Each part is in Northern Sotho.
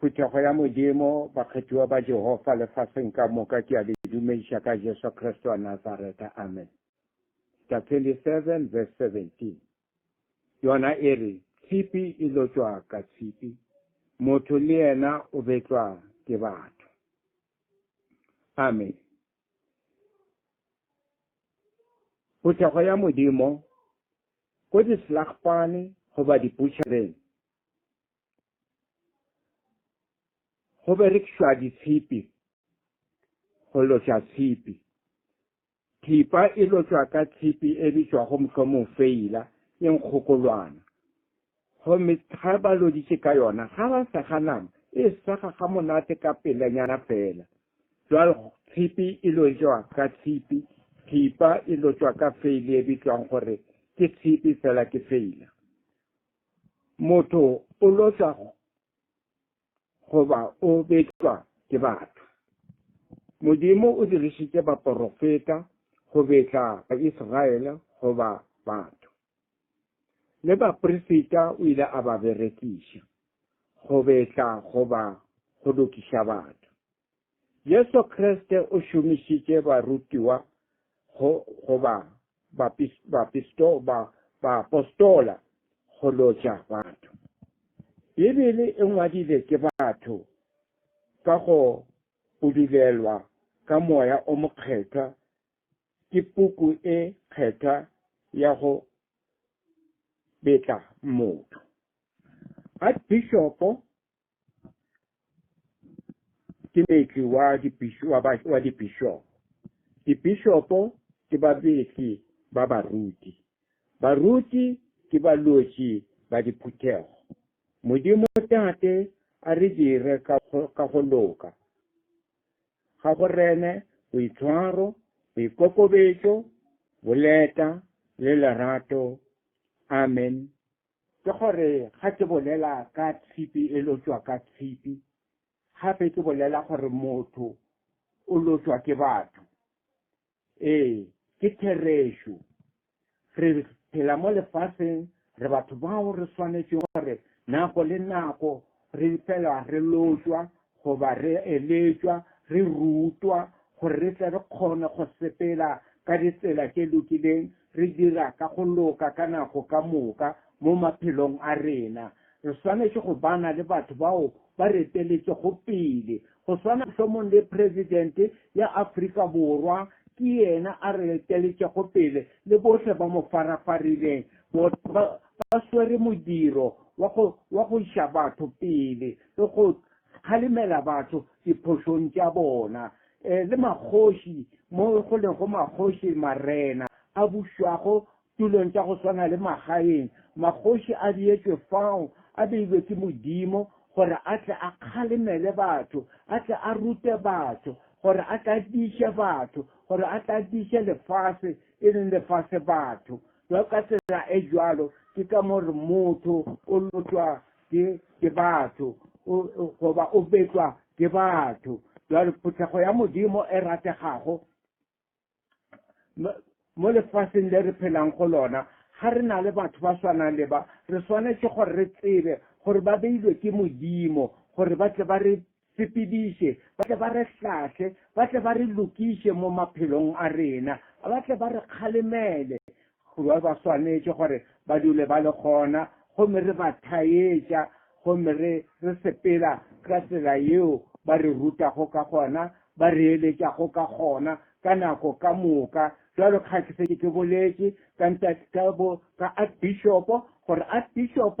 Phuthego ya Modimo, bakgethiwa ba Jehofa lefaseng ka moka, ke a le dumediša ka Jesu Kriste wa Nazareta. Amen. Sta 27 verse 17 yona e re, Tshipi e lotšwa ka tshipi, motho le yena o betlwa ke batho. Amen. Phuthego ya Modimo, ko dislagpane goba dipušareng, go berekišwa ditshipi go lotšwa tshipi thipa e lotšwa ka tshipi e bitšwago mohlomong feila e nkgokolwana gomme ga ba loditše ka yona ga ba sega nama e sega ga monate ka pelenyana fela jwale tshipi e lotšwa ka tshipi thipa e lotšwa ka feile e bitšwang gore ke tshipi fela ke feila Motho o loswa goba o betšwa ke batho. Modimo o dirišitše baporofeta go betla Baisraele goba batho. Le baprefeta o ile a ba berekiša go betla goba go lokiša batho. Jesu Kriste o šomišitše barutiwa go, go ba bapisto, ba, ba apostola go lotša batho. Bibele e ngwadile ke batho ka go budulelwa ka moya o mokgethwa ke puku e kgethwa ya go betla motho. Archbishopo ke meetli wa dibishopo. Dibishopo ke babeetli ba baruti. Baruti ke balwetši ba diphuthego. Modimo Tate a re dire ka go loka, ga go rene boitshwaro, boikokobetšo, boleta le lerato. Amen. Ke gore ga ke bolela ka tshipi e lotšwa ka tshipi, gape ke bolela gore motho o lotšwa ke batho. Ee, ke therešo. Re phela mo lefaseng, re batho bao re swanetše gore nako le nako Re phela re lotšwa goba re eletšwa, re rutwa, gore re tle re kgone go sepela ka ditsela tše lokileng, re dira ka go loka ka nako ka moka mo maphelong a rena. Re swanetše go bana le batho bao ba reteletšego pele. Go swana mohlomong le President ya Afrika Borwa, ke yena a reteletšego pele le bohle ba mo farafarileng, ba swere modiro wa go wa go iša batho pele le go kgalemela batho diphošong tša bona, e, le makgoši mo go lego makgoši, marena a bušwago tulong tša go swana le magaeng, makgoši a beetšwe fao, a beilwe ke Modimo gore a tle a kgalemele batho, a tle a rute batho, gore a tle a tiiše batho, gore a tle a tiiše lefase, e leng lefase batho. Bjalo ka tsela e bjalo, ke ka mo re motho o lotšwa ke, ke batho, o, o, goba o betšwa ke batho. Bjalo phuthego ya Modimo e rategago mo lefaseng le re phelang go lona, ga re na le batho ba swanang le ba, re swanetše gore re tsebe gore ba beilwe ke Modimo gore ba tle ba re Sepediše, ba tle ba re hlahle, ba tle ba re lokiše mo maphelong a rena, ba tle ba re kgalemele. Kua ba swanetše gore ba dule ba le gona, gomme re ba thaetša, gomme re, re sepela ka tsela yeo ba re rutago ka gona, ba re eletšago ka gona, ka nako ka moka. Bjalo ka ge ke šetše ke boletše ka ntate, ka bo, ka Archbishop, gore Archbishop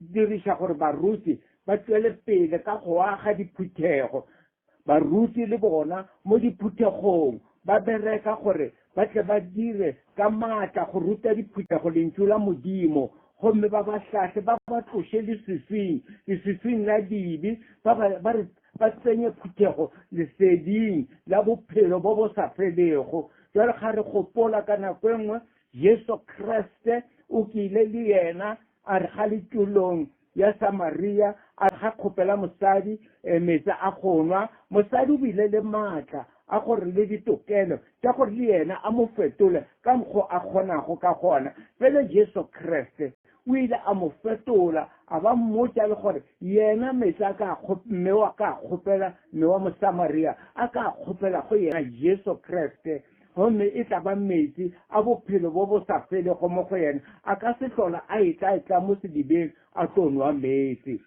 Diriša gore baruti ba tšwele pele ka go aga diphuthego. Baruti le bona mo diphuthegong ba bereka gore ba tle ba dire ka matla go ruta diphuthego Lentšu la Modimo gomme ba ba hlahle, ba ba tloše leswiswing, leswiswing la dibe, ba ba, ba re, ba tsenye phuthego leseding la bophelo bo bo sa felego. Bjale ga re gopola ka nako e nngwe Jesu Kriste o kile le yena a re ga le tulong ya Samaria, a re ga kgopela mosadi metsi a go nwa. Mosadi o bile le maatla a gore le ditokelo tša gore le yena a mo fetole ka mokgo a kgonago ka gona. Pele Jesu Kriste o ile a mo fetola, a ba mmotša le gore yena metsi a ka mme wa ka kgopela, mme wa Mosamaria a ka kgopela go yena Jesu Kriste. gomme e tla ba meetse a bophelo bo bo sa felego mo go yena, a ka se hlola a etla-etla mo sedibeng a tlo nwa meetse.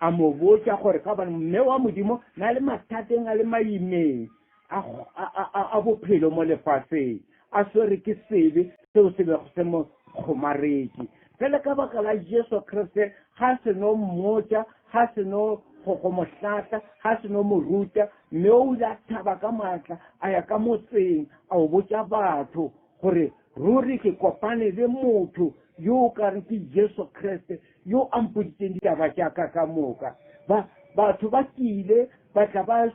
A mo botša gore ka bana mme wa Modimo na le mathateng a le maimeng a bophelo mo lefaseng. a swerwe ke sebe seo se bego se mo kgomaretše. Bjale ka baka la Jesu Kriste, ga se no mmotša, ga se no go, go mo hlatla, ga se no mo ruta, mme o ile a thaba ka maatla a ya ka motseng a o botša batho gore, Ruri ke kopane le motho yo o ka re ke Jesu Kriste yo a mpoditšeng ditaba tša ka ka moka. Ba, batho ba tlile ba tla ba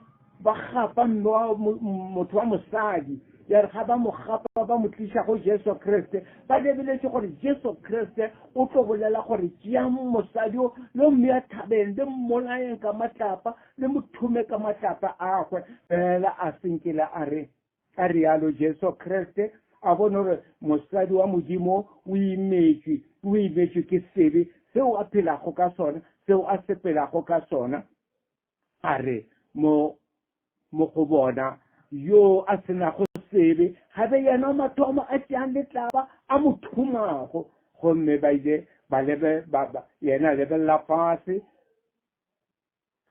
ba gapa mme wa motho wa mosadi, ya re ga ba mo gapa ba mo tliša go Jesu Kriste, ba lebeletše gore Jesu Kriste o tlo bolela gore tšea mosadi o le mme ya thabeng le mmolaeng ka matlapa le mo thume ka matlapa agwe. Fela a senkele a re a rialo Jesu Kriste a bone gore mosadi wa Modimo o imetšwe, o imetšwe ke sebe seo a phelago ka sona, seo a sepelago ka sona. A re, Mo, mo go bona yoo a se nago sebe, gabe yena o mathomo a tšeang letlaba a mo thumago. Gomme ba ile ba lebe, ba, ba, yena lebelela fase,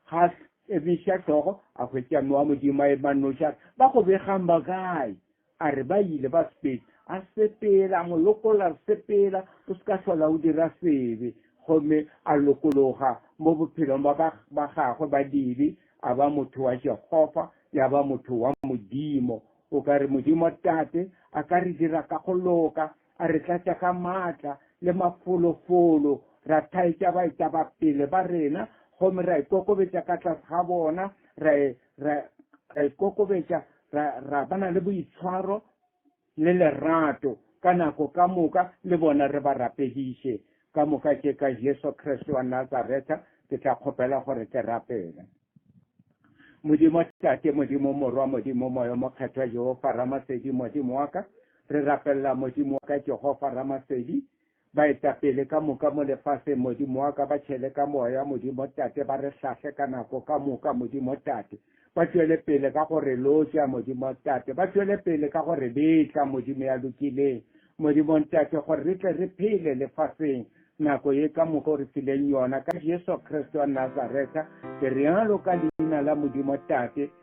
ga ebiša hlogo, a hwetša mowa modimo a ema noša, ba go begang ba kae? A re ba ile ba Spain, a sepela, a mo lokolla, re sepela, o se ka hlola o dira sebe. Gomme a lokologa mo bophelong ba ba, ba gagwe ba dibe, a ba motho wa Jehofa, ya ba motho wa Modimo. O ka re Modimo Tate a ka re dira ka go loka, a re tlatša ka maatla le mafolofolo, ra thaetša baetapele ba rena, gomme ra ikokobetša ka tlase ga bona, ra e, ra ra ikokobetša ra ra bana le boitshwaro le lerato ka nako ka moka le bona re ba rapediše ka moka tše ka jesu kriste wa nazareta ke tla kgopela gore ke rapele modimo tate modimo morwa modimo moyo mokgethwa jehofa ramasedi modimo wa ka re rapelela modimo wa ka jehofa ramasedi Baetapele ka moka mo lefaseng, Modimo wa ka, ba tšhele ka Moya, Modimo Tate, ba re hlahle ka nako ka moka, Modimo Tate. Ba tšwele pele ka go re lotša, Modimo Tate. Ba tšwele pele ka go re betla, Modimo ya lokileng, Modimo Ntate, gore re tle re phele lefaseng nako ye ka moka O re fileng yona. Ka Jesu Kriste wa Nazareta ke realo ka Leina la Modimo Tate.